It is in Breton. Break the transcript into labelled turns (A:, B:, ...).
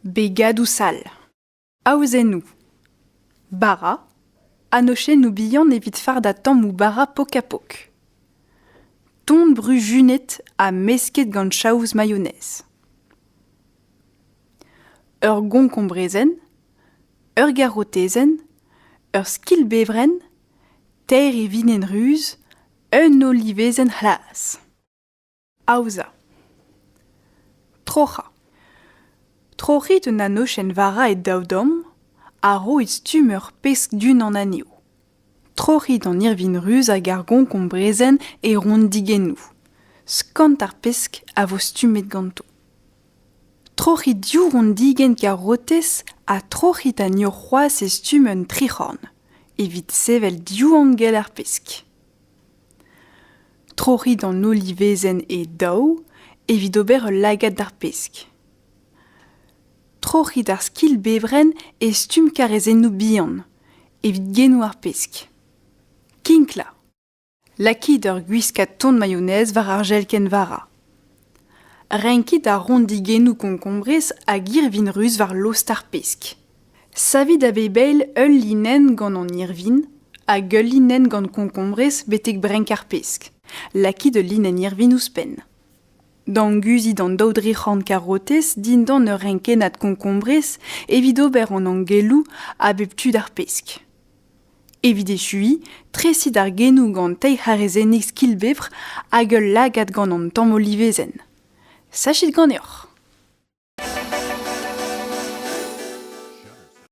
A: Begadoù sall. Aozennoù. Bara, anochennoù bihan evit fardañ tammoù bara pok-ha-pok. Ton-bru junet ha mesket gant chaouz mayonnaise. Ur gonkon-brezenn, ur garotezenn, ur skilbevrenn teir ivinoenn ruz, eun olivezenn c'hlas. Aozañ. Troc'hañ. Troc'hit un anochenn vara e daou damm ha roit stumm ur pesk du-hont an anezho. Troc'hit an irvin ruz hag ar gonk hon brezel e rondigennoù. Skant ar pesk a vo stummet ganto. Troc'hit div ranndigenn karotez ha troc'hit anezho c'hoazh e stumm un tric'horn, evit sevel div angell ar pesk. Troc'hit an olivezenn e daou evit ober ul lagad d'ar pesk. Troc'hit ar skilbevrenn e stumm karrezennoù bihan, evit genoù ar pesk. Kinklañ. Lakit ur gwiskad ton mayonez war ar jelkenn-vara. Renkit ar rondigennoù konkombrez a girvin ruz war lost ar pesk. Savit a bep eil ul linenn gant an irvin hag ul linenn gant konkombrez betek brenk ar pesk. Lakit ul linenn irvin ouzhpenn. Danguzit an daou dric'horn karotez dindan ur renkennad konkombrez evit ober an angelloù a bep tu d'ar pesk. Evit echuiñ, tresit ar genoù gant teir c'harezennig skilbevr hag ul lagad gant an tamm olivezenn. Sachit ganeoc'h!